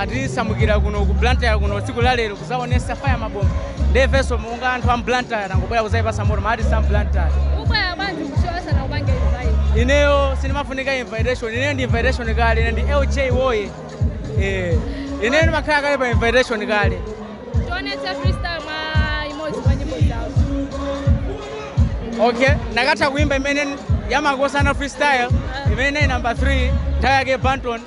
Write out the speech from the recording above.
atisamukira kuno ku blantyre kuno tsiku la lero kuzaonesa fire mabomba nde ifenso monga anthu a m'blantyre tangobwera kuzayipasa moto ma artist a m'blantyre ubwera bwanji ku show sanakupange invite ineyo sindimafunika invitation ineyo ndi invitation kale ine ndi lj woye eh ineyo ndimakhala kale pa invitation kale tionetse freestyle mwa imodzi mwa nyimbo zawo okay ndakatha kuimba imene ya makosana freestyle imene nayi number 3 nthawi yake banton